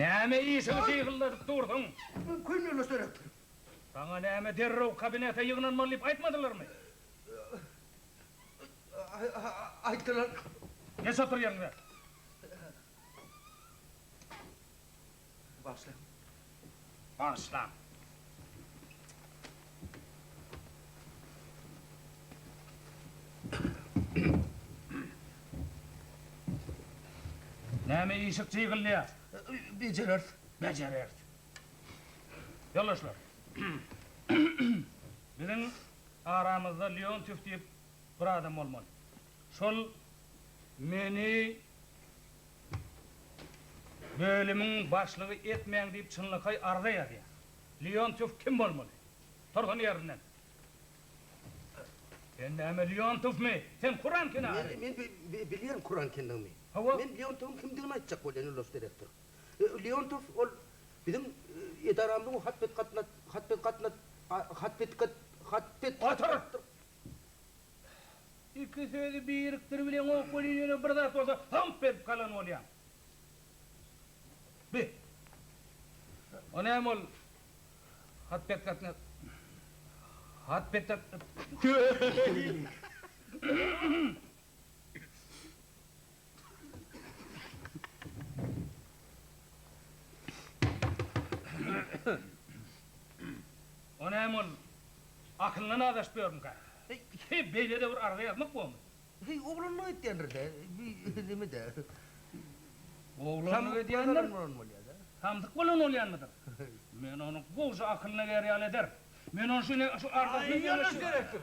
Näme işiňi syhyldadyp dursuň? Köýnegler söräp duryn. Saňa näme derrew kabinete ýygnanmaly diýip aýtmadylarmy? Aýtdylar. Geç otur ýeriňe. Bagyşlaň. Bagyşlaň. Näme işik jygylýar? Bejereris. Bejereris. Ýoldaşlar, biziň aramyzda Leontýew diýip bir adam bolmaly. Şol meni Bölümiň başlygy etmäň diýip çynlakaý arza ýazýar. Leontow kim bolmaly? Tursun ýerinden. Sen näme Leontowmy? Sen kuran kenary. Men bilýän kuran kendigimi. Hawa. Men Leontowyň kimdigini aýtjak bolýan ýoldaş direktor. Leontow ol biziň edaramyzyň hat bet gatnat hat bet gatnat hat bet gat hat bet. Otur! Iki sözi birikdir bilen okuly ýöne bir zat bolsa hymp edip galan bolýaň. Bi. O näme ol hat bet gatna hat bet gat. O näme ol? Akylyna nazaşyp ýörmükä? Heý, beýle-de bir arza ýazmak bolmy? Heý, oglanlyk edýändir-dä, bi neme-dä. Oglanlyk edýändir, samsyk bolan bolýanmydyr? Men ony gowja akylyna gär ýaly ederin. Men ony şeýle, şu arzasyny. Aý, ýöne seretdir.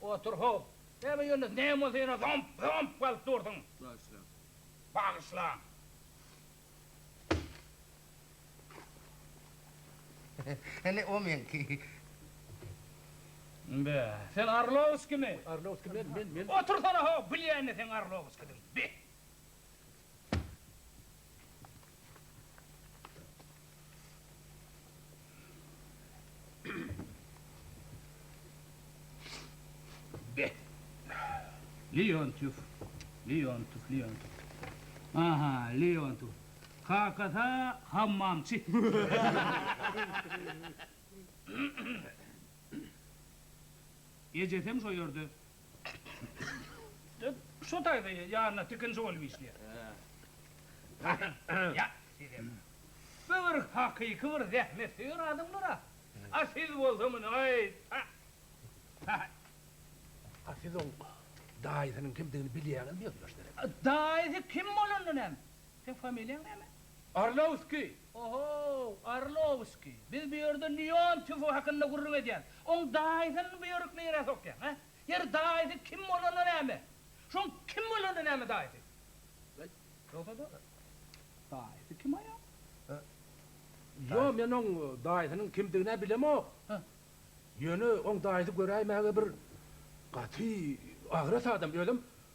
Otur, how! Bäbe Ýunus, näme bolsa ýene zomp, zomp galyp dursuň? Bagyşlaň. Bagyşlaň. Hany, o meňki. Be, sen Arlowskimi? Arlowski men, men, men. Otursana, how! Bilýän-de seň Arlowskidigiňi. Be! Leontýew, Leontýew, Leontýew. Aha, Leontýew. Kakasy hammamçy. Ejesem şo ýerde. Şu taýda ýanyna tikinji bolup işleýär. Ýa, sizem. Bu bir hakyky bir zähmetsöýer adamdyr-a. A siz bolsa muny aýt. A siz oň daýysynyň kimdigini bilýäňizmi, ýoldaş Serek? Daýysy kim bolanda näme? Seň familiýaň näme? Orlowskiý. Ohow, Arlowskiý, biz bu ýerde Lýon tüfi hakynda gürrüň edýäs, oň daýysyny bu ýörük nirä sokýaň, hä? Ýeri, daýysy kim bolanda näme? Şoň kim bolanda näme daýysy? Beýt, ýogsa-da, daýysy kim aýal? Hä? Ýo, men oň daýysynyň kimdigin-ä bilemok. Hä? Ýöne oň daýysy göräýmäge bir gaty agras adam, özem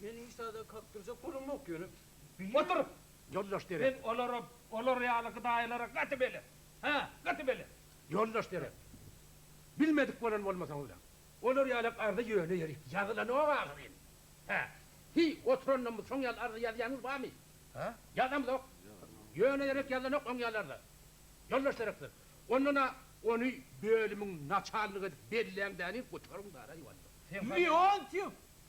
Meniň hiç zada kakdyrjak bolamok, ýöne bile. Otur! Ýoldaş Dere. Men olara, olar ýaly gydaýlara gaty belet. Hä, gaty belet. Ýoldaş Dere. Bilmedik bolan bolmasaňyz-a. Olar ýalak arzy ýöne ýeri. Ýazylanok ahyryn. Hä. Hiý, oturandan bu soň ýaly arzy ýazýanyz barmy? Hä? Ýazamzok. Ýöne ýerek ýazylanok oň ýaly arzy. Ýoldaş Derekler. Ondan-a ony bölümiň naçalnygy edip belläň-dä-ni, gutaryň-da-raý walla. Sen hany. Leontýew!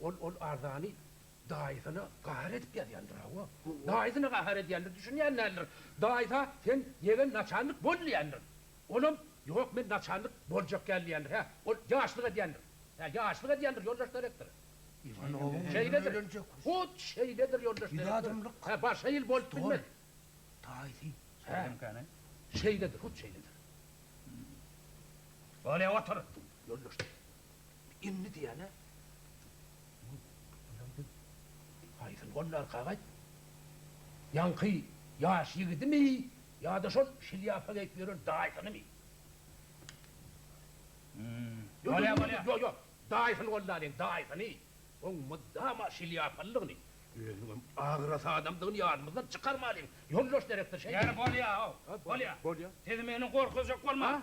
Ol ol arzany daýysyna gahar edip ýazýandyr hawa. Daýysyna gahar edýändir, düşünýän däldir. Daýysa sen ýegen naçalnik bol diýýändir. Olam ýok men naçalnik boljak däl diýýändir. Hä, ol ýaşlyk edýändir. Hä, ýaşlyk edýändir ýoldaş direktor. Iwanowyň ömrüni ölenje kut. Hut şeýledir ýoldaş direktor. Bir adamlyk. Hä, başga ýyl bolup bilmez. Daýysy. Şeýlemkäni. Şeýledir, hut şeýledir. Bolýa otur. Ýoldaş direktor. Indi diýýän-ä. Onam biz haýsyny gollarka gaýt? Ýaňky ýaş ýigidimi ýa-da şol şlýapa geýip ýören daýysynymy? Bolýa, bolýa. Ýok, ýok. Daýysyny gollalyň, daýysyny. Oň mydama şlýapalydygyny, özüniňem agras adamdygyny ýadymyzdan çykarmalyň, ýoldaş direktor, şeýdip. Ýeri bolýa-ow, bolýa. Bolýa. Siz meni gorkuzjak bolmaň.